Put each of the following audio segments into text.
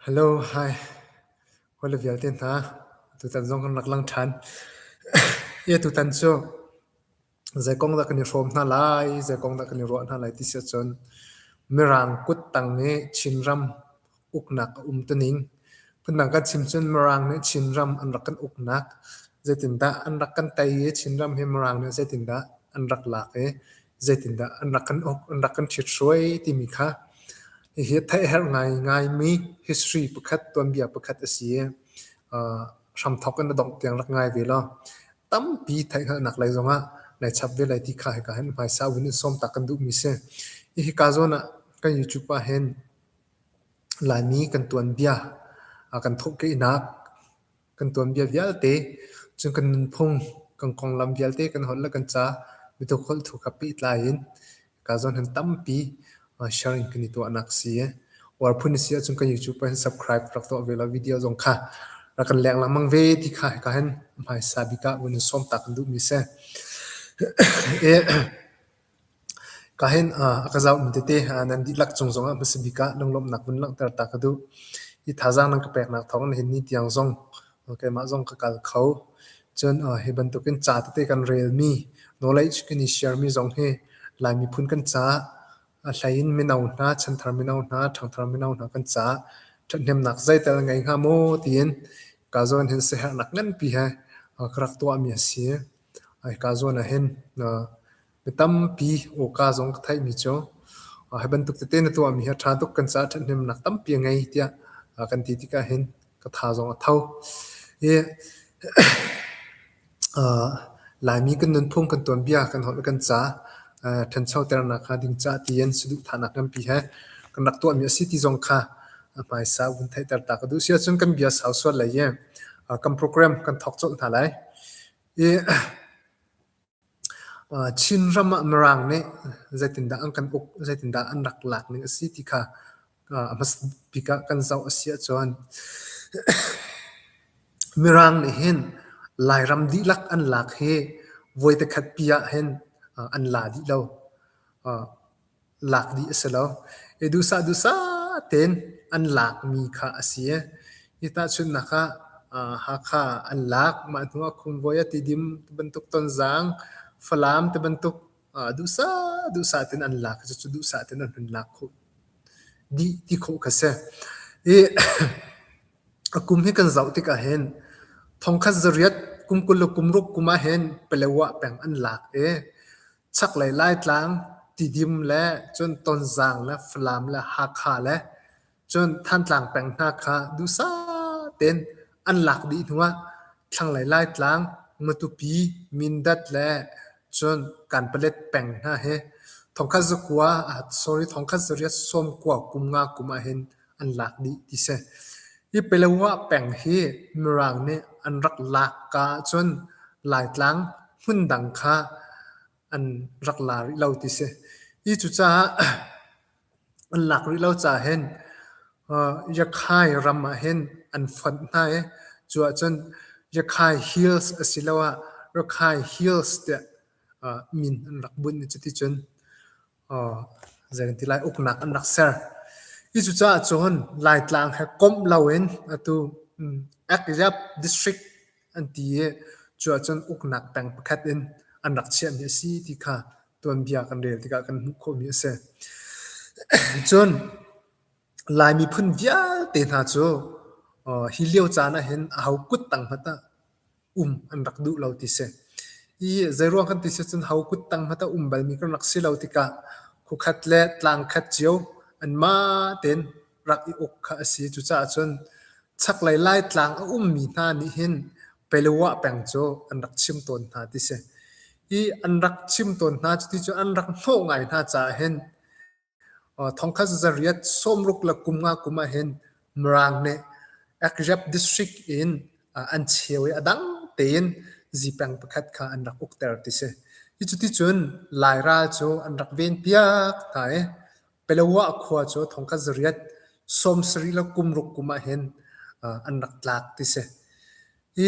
Hello, hi. Hawi le vialte hna, tutan zong kan rak lang ṭhan. Ie tutan cu zei kong dah kan i hrawm hna lai, zei kong dah kan i ruah hna lai ti si ahcun Mirang kut tang i Chinram uknak a um tuning. Phundang kan chim cun Mirang nih Chinram an rak kan uknak, zeitindah an rak kan tei i Chinram hi Mirang nih zeitindah an rak lak i zeitindah an rak kan uk, an rak kan ṭhithruai timi kha hihi a theih herh ngaingaimi history pakhat, tuanbia pakhat a si i uh, hramthok in a dongh tiang rak ngai ve law tampi theih hngalhnak lei zongah lai chap ve lai ti kha hika hin hmaisa win in sawm tak kan duhmi si. Hihi ka zawn ah kan YouTube ah hin Laimi kan tuanbia a kan thawhkehnak kan tuanbia vialte, cun kan nunphung, kan konglam vialte kan holh le kan ca mituk holh thu kha pehtlai in ka zawn han tampi sharing kan i tuahnak si e. Uar phun si ahcun kan YouTube pa hin subscribe rak tuah ve la video zong kha rak kan lek lang mang ve ti kha ka hen hmaisa bika un som tak kan duh mi se. Ka hen ah a ka zauhmi tete nan dihlak cung zongah hmasa bik ah lunglawmhnak vun langhter ta ka duh. Hi thazaang nan ka peknak thawng nihin ni tiang zong keimah zong ka kal kho. Cun hi bantukin ca tete kan relmi, knowledge kan i sharemi zong hi Lai miphun kan caah a hleiin mino hna, chanthar mino hna, ṭhangthar mino hna kan caah ṭhathnemnak zeital ngei hnga maw tiin ka zawn hin siaherhnak nganpi he ka rak tuahmi a si. Hika zawn ahhin mi tampi awka zong ka theihmi cu hi bantuk tete na tuahmi hi a ṭha tuk kan caah ṭhathnemnak tampi a ngei tiah kan ti tikah hin ka tha zong a tho. Hi Laimi kan nunphung kan tuanbia kan holh le kan ca ṭhanchoternak kha ding caah ti in saduhthahnak nganpi he kan rak tuahmi a si ti zong kha a hmaisa vun theihter ta ka duh si ahcun kan bia sau sual lai i kan program kan thawk colh hna lai i Chin ram ah Mirang nih zeitindah an kan uk zeitindah an rak lak ning a si ti kha a hmasat bik ah kan zoh a si ahcun Mirang nih hin Lairam dihlak an lak hi voitekhat pi ah hin an la dih lo. Lak dih a si lo. I duhsah duhsah tein an lakmi kha a si. Hi tahchunhnak ah Hakha an lak. Mah hnuah Khumvuai a tidim ti bantuk tonzang, Falam ti bantuk duhsah duhsah tein an lak. Cucu duhsah tein an hun lak khawh dih ti khawh kha si. I a kum hi kan zoh tikah hin thongkhat zariat kum kul le kum ruk kum ah hin Palawa peng an lak i Chaklei Laitlang Tidim le cun Tonzang le Falam le Hakha le cun Thantlang peng hna kha duhsah tein an lak dih hnu ah thlanglei Laitlang, Matupi, Mindat le cun Kanpalet peng hna hi thongkhat zakua sorry thongkhat zarih ah sawmkua kum nga kum ah hin an lak dih ti si. Hi Pelewa peng hi Mirang nih an rak lak ka ahcun Laitlang hmun dang kha an rak la rih lo ti si. Hi cucaah an lak rih lo caah hin Yakhai ram ah hin an fonh hna i cu ahcun Yakhai Hills asiloah Rakhai Hills tiah min an rak bunh i cuticun Zeiti lai uknak an rak ser. Hi cucaah cun Laitlang he komh loin atu Akyab District an ti i cuah cun uknak peng pakhat in an rak chiahmi a si ti kha tuanbia kan rel tikah kan hmuh khawhmi a si. Cun Lai miphun vialte hna cu hi lio caan ahhin aho kut tang hmanh ah um an rak duh lo ti si. I zeiruang kan ti si cun ho kut tang hmanh a um balmi kan rak si lo tikah khukhat le tlangkhat cio an ma tein rak i uk kha a si. Cucaah cun chaklei Laitlang a ummi hna nih hin Pelua peng cu an rak chim tawn hna ti si. I an rak chim tawn hna, cuti cu an rak hnawh ngai hna caah hin Thongkhat zariat sawmruk le kum nga kum ahhin Mirang nih Akyab district in an cheu i a dang tein zipeng pakhat kha an rak ukter ti si. Hi cuticun Lairal cu an rak venpiak hna i Palawa khua cu thongkhat zariat sawmsarih le kumruk kum ahhin an rak tlak ti si. Hi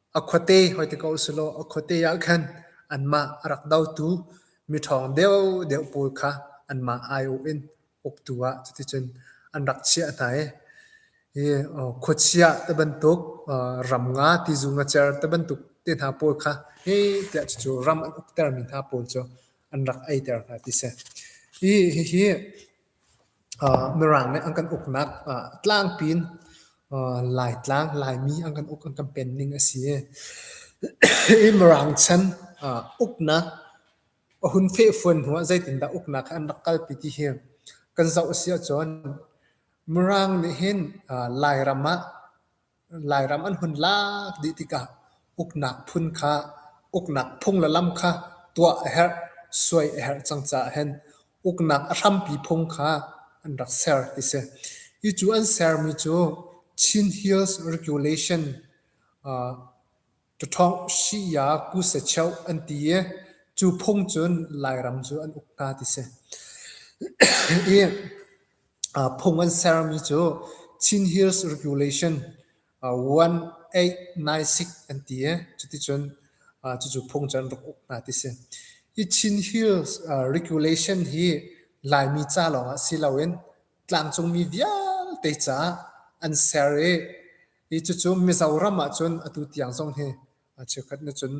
A khuate hoi ti ko usihlaw a khuate ah khan anmah a rak dotu miṭhawng deuhdeuh pawl kha anmah aiawh in uktu ah cuticun an rak chiah hna i hi khuachia ti bantuk ram nga tizu ngacer ti bantuk te hna pawl kha hi tiah cucu ram an uktermi hna pawl cu an rak eiter hna ti a si. Hi hihi Mirang nih an kan uknak tlangpi in Laitlang, Laimi an kan uk an kan pen ning a si. Hi Mirang chan uknak a hun fehfuan hnu ah zeitindah uknak he an rak kalpi ti hi kan zoh a si ahcun Mirang nih hin Lairam ah Lairam an hun lak dih tikah uknak phun kha, uknak phung le lam kha tuah a herh, suai a herh cang caah hin uknak a hrampi phung kha an rak ser ti si. Hi cu an sermi cu Chin Hills Regulation uh, Ṭaṭhawng si-ya kusacheuh an ti i cu phung cun Lairam cu an uk hna ti si. I phung an sermi cu Chin Hills Regulation 1896 an ti i cuticun cucu phung cu an rak uk hna ti si. Hi Chin Hills Regulation hi Laimi ca lawngah si loin tlangcungmi vialte caah an ser i I cucu Mizoram ahcun atu tiang zong hi cheukhat na cun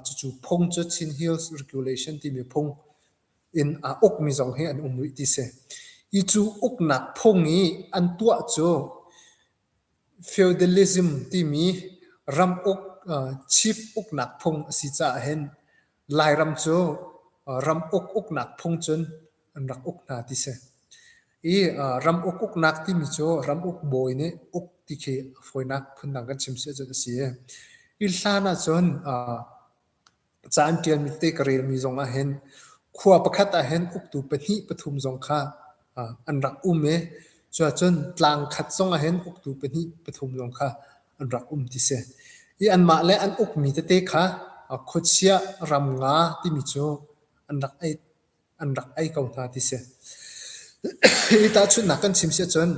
cucu phung cu Chin Hills Regulation timi phung in a ukmi zong hi an um rih ti si. I cu uknak phung i an tuah cu feudalism timi ram uk chip uknak phung a si caah hin Lairam cu ram uk-uknak phung cun an rak uk hna ti si. I ram uk-uknak timi cu ram uk bawi nih uk ti khi a fawinak phundang kan chim si ahcun a si i, hi hlan ahcun ca an ṭialmi tete ka relmi zong ahhin khua pakhat ahhin uktu pahnih pathum zong kha an rak um i, cuahcun tlang khat zong ahhin uktu pahnih pathum zong kha an rak um ti si. I anmah le an ukmi tete kha khuachia ram nga timi cu an rak ei an rak ei ko hna ti si. Hi tahchunhnak kan chim si ahcun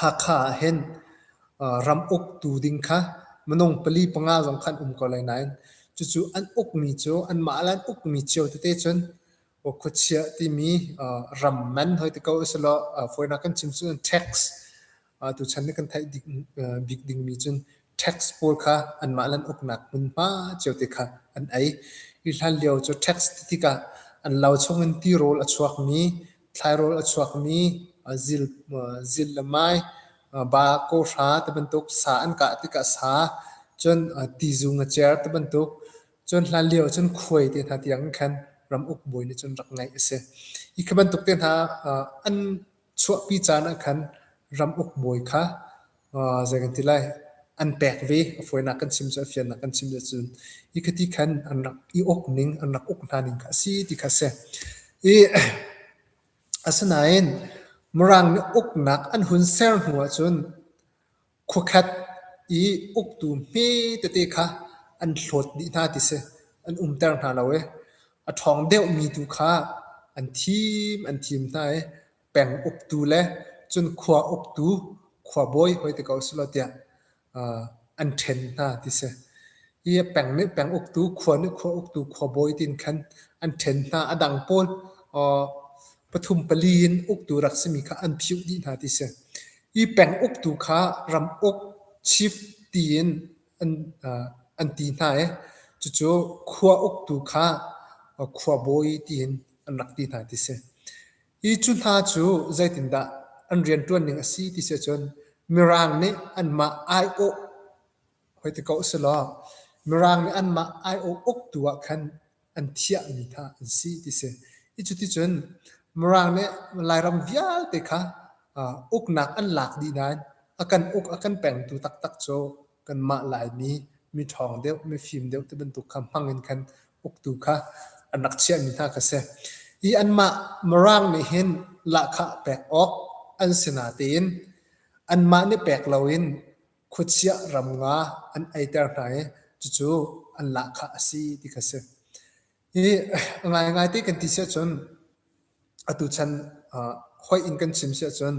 Hakha ah hin ram uktu ding kha minung pali panga zong khan um ko lai nain cucu an ukmi cu anmah le an ukmi cio tete cun khuachiah timi ram man hoi ti ko usilaw foreigner kan chim cun tax tuchan na kan theih bik dingmi cun tax pawl kha anmah le an uknak hmunhma cio te kha an ei. Hi hlan lio cu tax tikah an lo chungin tirawl a chuakmi, thlairawl a chuakmi, zil le mai, ba, kawhra tibantuk sa an kah tikah sa, cun tizung a cer tibantuk Cun hlan lio cun khuai te hna tiang in khan ram uk bawi nih cun rak ngeih a si. Hi khi bantuk te hna an chuahpi caan ah khan ram uk bawi kha zei kan ti lai an pek ve. A fawinak kan chim cu, a fiannak kan chim cu cun hi khi ti khan an rak i uk ning, an rak uk hna ning kha a si ti kha a si. I asinain Mirang nih uknak an hun ser hnu ah cun Khuakhat i uktu hme tete kha an hlawt dih hna ti si. An umter hna lo i a ṭhawng deuhmi tu kha an thim an thim hna i peng uktu le cun khua uktu, khuabawi hoi te ko si law tiah uh, an ṭhen hna ti si. Hi peng nih peng uktu, khua nih khua uktu, khuabawi tin khan an ṭhen hna. A dang pawl uh, pathum pali in uktu rak simi kha an phiuh dih hna ti si. I peng uktu kha ram uk, chief, tiin an ti hna i cucu khua uktu kha khuabawi tiin an rak ti hna ti si. Hi cu hna cu zeitindah an rianṭuan ning a si ti si ahcun Mirang nih anmah aiawh Hoi ti ko selaw, Mirang nih anmah aiawh uktu ah khan an thiahmi kha an si ti si. I cuticun Mirang nih Lairam vialte kha uknak an lak dih nain a kan uk a kan pengtu taktak cu kanmah Laimi miṭhawng deuh, mifim deuh ti bantuk kha hmangin khan uktu kha an rak chiahmi hna kha a si. I anmah Mirang nih hin lahkhah pek awk an si natein anmah nih pek loin khuachiah ram nga an eiter hna i cucu an lahkhah a si ti kha si. Hi ngaingai te kan ti si ahcun atu chan hoi in kan chim si ahcun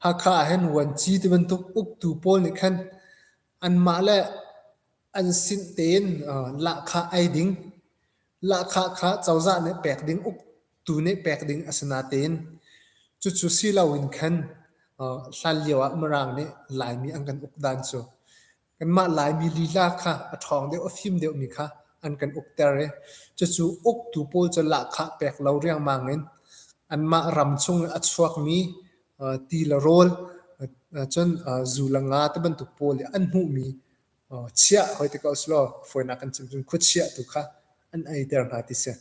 Hakha ahhin vuanci ti bantuk uktu pawl nih khan anmah le an sin tein lahkhah ei ding, lahkhah kha cozah nih pek ding uk tu nih pek ding a si natein cucu si loin khan hlan lio ah Mirang nih Laimi an kan uk dan cu kanmah Laimi lila kha a ṭhawng deuh a fim deuhmi kha an kan ukter i cucu uktu pawl cu lahkhah pek lo riangmang in anmah ram chung i a chuakmi ti le rawl cun zu le nga ti bantuk pawl i an hmuhmi chiah hoi ti ko selaw fawinak kan chim cun khuachiah tu kha an eiter hna ti si.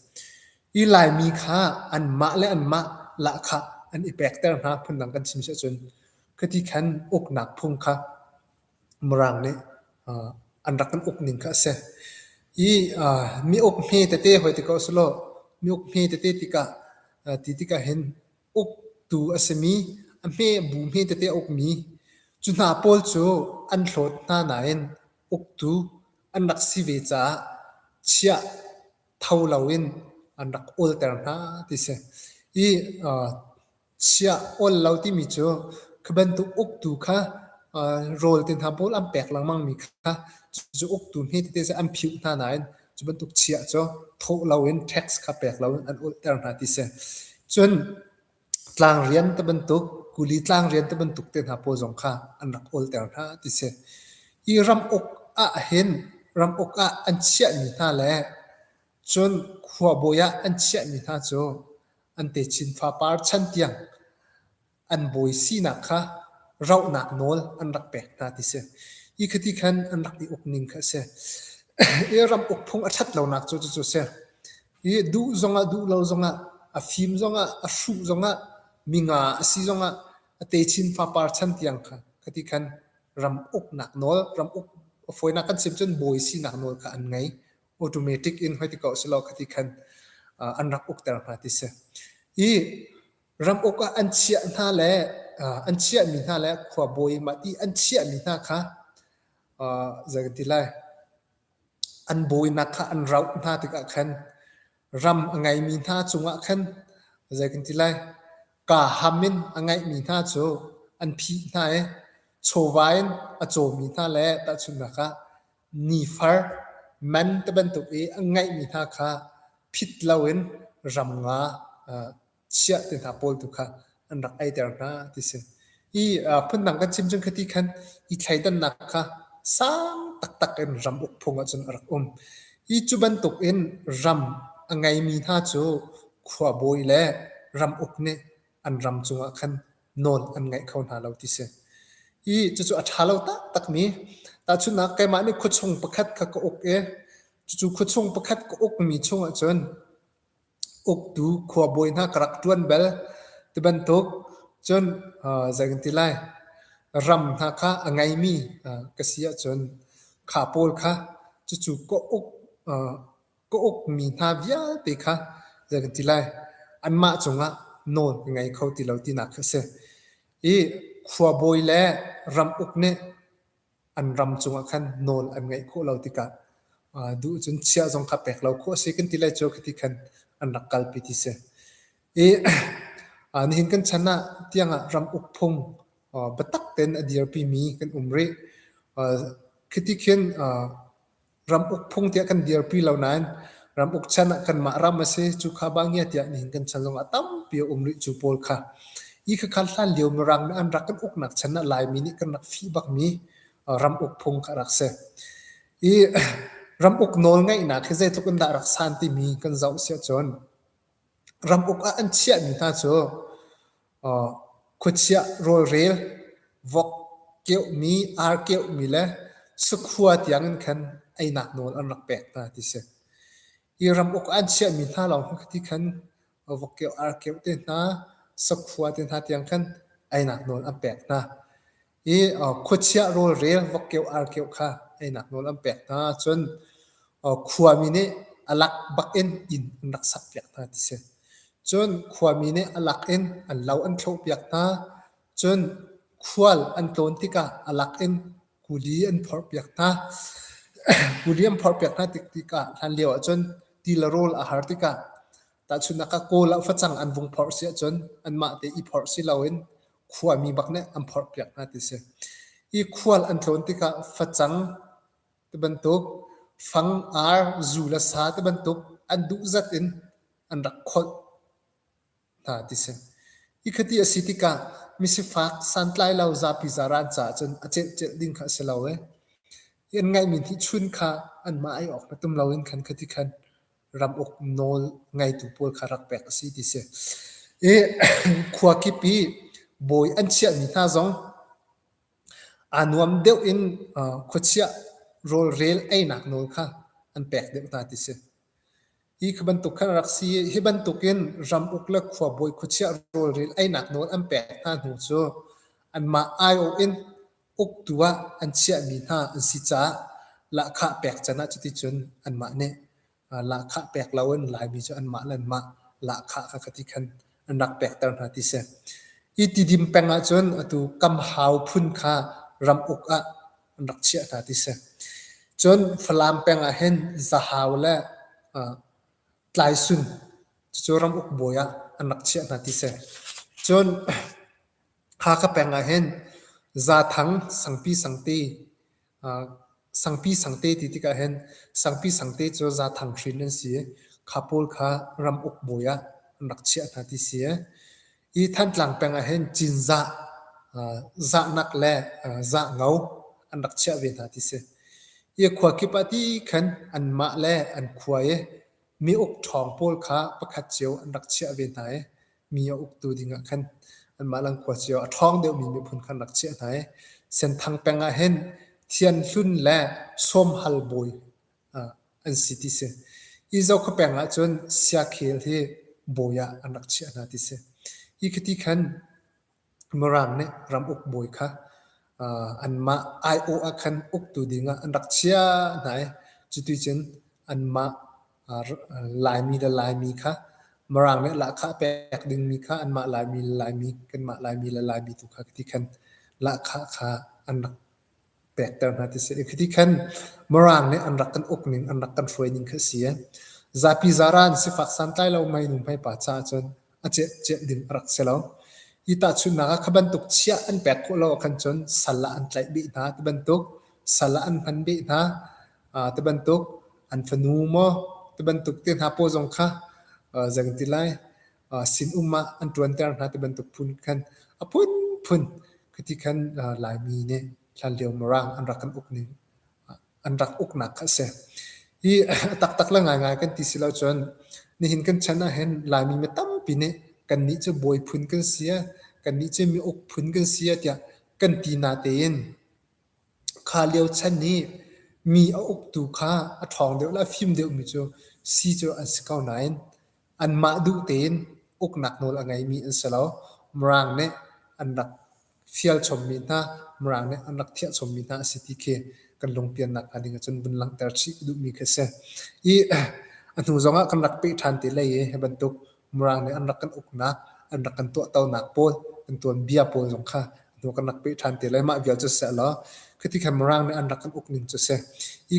I Laimi kha anmah le anmah lahkhah an i pekter hna phundang kan chim si ahcun khati khan uknak phung kha Mirang nih an rak kan uk ning kha a si. I mi uk hme tete hoi ti ko selaw mi uk hme tete tikah ti tikah hin uktu a simi, a hme bu hme tete a ukmi, cu hna pawl cu an hlawt hna nain uktu an rak si ve caah chiah tho loin an rak awlter hna ti si. I uh, chiah ol lo timi cu khi bantuk uktu kha uh, rawl te hna pawl an pek lengmangmi kha cucu uktu hme tete an phiuh hna nain Cu bantuk chiah cu thawh loin tax kha pek loin an ulhter hna ti si. Cun tlangrian te bantuk, kuli tlangrian te bantuk te hna pawl zong kha an rak ulhter hna ti si. Hi ram uk ah hin ram uk ah an chiahmi hna le cun khuabawi ah an chiahmi hna cu an techin fapar chan tiang an bawi sinak kha rauhnak nawl an rak pek hna ti si. Hi khati khan an rak i uk ning kha a si. I ram uk phung a ṭhat lonak cu cucu a si. Hi duh zongah duh lo zongah, a fim zongah, a hruh zongah, minga a si zongah, a techin fapar chan tiang kha khati khan ram uknak nawl, ram uk a fawinak kan siam cun bawi sinak nawl kha an ngei. Automatic in hoi ti ko a si law khati khan an rak ukter hna ti si. I ram uk ah an chiah hna le an chiahmi hna le khuabawi mah ti an chiahmi hna kha zei ka ti lai an bawinak kha an rauh hna tikah khan ram a ngeimi hna cungah khan zei kan ti lai ka ham in a ngeihmi hna cu an phih hna i chawva in a cawmi hna le tahchunhnak ah nifar man te bantuk i a ngeihmi hna kha phit loin ram nga chiah te hna pawl tu kha an rak eiter hna ti si. I phundang kan chim cun khati khan i thleidannak kha sang taktak in ram uk phung ahcun a rak um. Hi cu bantuk in ram a ngeimi hna cu khuabawi le ram uk nih an ram cungah khan nawl an ngeih kho hna lo ti si. I cucu a ṭha lo taktakmi tahchunhnak keimah nih khuachung pakhat kha ka uk i cucu khuachung pakhat ka ukmi chung ahcun uktu khuabawi hna ka rak ṭuan bel. Ti bantuk cun uh, zei kan ti lai, ram hna kha a ngeimi uh, ka si ahcun kha pawl kha cucu ka uk, uh, ka ukmi hna vialte kha zei kan ti lai, anmah cungah nawl ka ngei kho ti lo tinak khi a si. I khuabawi le ram uk nih an ram cungah khan nawl an ngeih khawh lo tikah duh cun chia zong kha pek lo khawh a si kan ti lai cu khi ti khan an rak kalpi ti si. I nihin kan chan ah tiangah ram uk phung biatak tein a dirpi mi kan um rih. Khi ti khin ram uk phung tiah kan dirpi lo nain ram uk chan ah kanmah ram a si cu kha bangia tiah nihin kan chan zong ah tampi a um rih cu pawl kha i khakha hlan lio mirang nih an rak kan uknak chan ah laimi nih kan rak fih bakmi ram uk phung kha rak si i ram uk nawl ngaihnak hi zeitluk in dah rak san timi kan zoh siah cun ram uk ah an chiahmi hna cu Khuachiah rawlrel, vok keuhmi, ar keuhmi le sakhua tiangin khan einak nawl an rak pek hna ti a si. Hi ram uk an chiahmi hna lawng hi khi khan vok keuh, ar keuh te hna, sakhua te hna tiang khan einak nawl an pek hna. i khuachiah rawlrel vokkeuh arkeuh kha einak nawl an pek hna ahcun khuami nih a lak bak in inn an rak sakpiak hna ti si. Cun khuami nih a lak in an lo an thlawhpiak hna. Cun khual an tlawn tikah a lak in kuli an phorhpiak hna. kuli an phorhpiak hna tik tikah hlanlio ahcun ti le rawl a har tikah tahchunhnak ah kawl ah facang an vung phorh si ahcun anmah te i phorh si loin khuami bak nih an phorh piak hna ti si. Hi khual an tlawn tikah facang ti bantuk, fang, ar, zu le sa ti bantuk an duh zat in an rak kholh hna ti si. Hi khati a si tikah misifak santlai lo zapi zara an caah cun a celhcelh ding kha a si lo i, an ngaihmi hnihchun kha anmah ei awk na tum lo in khan khati khan ram uk nawl ngeitu pawl kha rak pek a si ti si. I khua kip i bawi an chiahmi hna zong aa nuam deuh in uh, khuachiah rawlrel einak nawl kha an pek deuh hna ti si. Hi khi bantuk khan rak si hi bantukin ram uk le khuabawi khuachiah rawlrel einak nawl an pek hna hnu cu anmah aiawh in uktu ah an chiahmi hna an si caah lahkhah pek can ah cuticun anmah nih lahkhah pek loin Laimi cu anmah le anmah lahkhah kha ka ti khan an rak pekter hna ti si. I tidim peng ahcun atu kam hau phun kha ram uk ah an rak chiah hna ti si. Cun Falam peng ah hin zahau le tlaisun cucu ram uk bawi ah an rak chiah hna ti si. Cun Kha ka peng ah hin zaathang sangpi sangte, aa sangpi sangte ti tikah hin sangpi sangte cu zaathang hrin an si i kha pawl kha ram uk bawi ah an rak chiah hna ti si ee. Hi Thantlang peng ah hin cinzah, aa zahnak le aa zahno an rak chiah ve hna ti si. Hi khua kip ah ti khan anmah le an khua i mi uk ṭhawng pawl kha pakhat cio an rak chiah ve hna i mi a uktu ding ah khan anmah langkhua cio a ṭhawng deuhmi miphun khan rak chiah hna i Senthang peng ah hin Thian Hlun le Sawmhal bawi an si ti si. Izo khua peng ah cun Siakhel hi bawi ah an rak chiah hna ti si. Hi khiti khan Mirang nih ramuk bawi kha anmah aiawh ah khan uktu dingah an rak chiah hna i cuticun anmah Laimi le Laimi kha Mirang nih lahkhah pek dingmi kha anmah Laimi le Laimi, kanmah Laimi le Laimi tu kha ti khan lahkhah kha an rak pekter hna ti si. Khi ti khan Mirang nih an rak kan uk ning, an rak kan hruai ning kha a si. Zapi zara an si fak santlai lo mei nu hmai pa caah cun a ciah ding a rak si lo. Hi tahchunhnak ah kha bantuk chiah an pek khawh lo ahkhan cun sal ah an tlaih beh hna ti bantuk, sal ah an hman beh hna ti bantuk, an fanu maw ti bantuk te hna pawl zong kha, zeikan ti lai, sinum ah an ṭuanter hna ti bantuk phun khan a phunphun khati khan Laimi nih hlanlio Mirang an rak kan uk ning an rak uknak kha a si. Hi a taktak le ngaingai kan ti si lo cun nihin kan chan ah hin Laimi mi tampi nih kannih cu bawi phun kan si a kannih cu mi uk phun kan si a tiah kan ti nate in Kha lio chan hi mi a uktu kha a ṭhawng deuh le a fim deuhmi cu sii cu an si ko nain anmah duh tein uknak nawl a ngeimi an si lo. Mirang nih an rak fial chommi hna, Mirang nih an rak thiah chommi hna a si ti khi kan lungpiannak hnga ding ahcun vun langhter chih ka duhmi khi a si. I a hnu zongah kan rak peh ṭhan te lei i hi bantuk Mirang nih an rak kan uknak, an rak kan tuahtonak pawl, kan tuanbia pawl zong kha hnu kan rak peh ṭhan te lai. Mah vial cu sihlaw khiti khan Mirang nih an rak kan uk ning cu si. Hi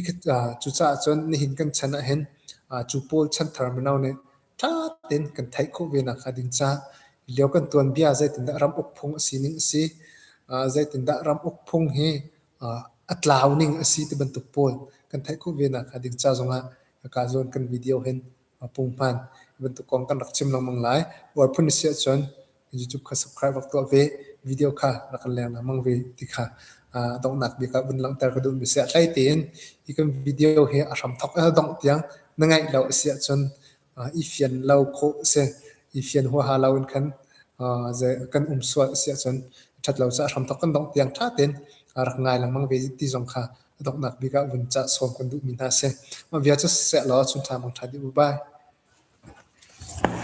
cucaah cun nihin kan chan ahhin cu pawl chan thar mino nih ṭha tein kan theih khawh ve nakhnga ding caah lio kan tuanbia zeitindah ram uk phung a sining a si, zeitindah ram uk phung hi a tlau ning a si ti bantuk pawl kan theih khawh ve nakhnga ding ca zongah hika zawn kan video hin a pung hman. Hi bantuk kong kan rak chim lengmang lai. Buar phun a si ahcun YouTube kha subscribe rak tuah ve. Video kha rak kan leng lengmang ve ti kha uh, donghnak bik ah vun langhter ka duhmi si a hlei tein hi kan video hi a hram thok a dongh tiang na ngaih lo a si ahcun uh, i fian lo kho si i fian hua ha lo in khan uh, kan um sual a si ahcun that lo sa hram thok kan dongh tiang tha ten rak ngai lengmang ve ti zong kha a donghnak bik ah vun cah sawm kan duhmi hna a si. Mah vial cu siseh law a chunṭha mangṭha dih u bai.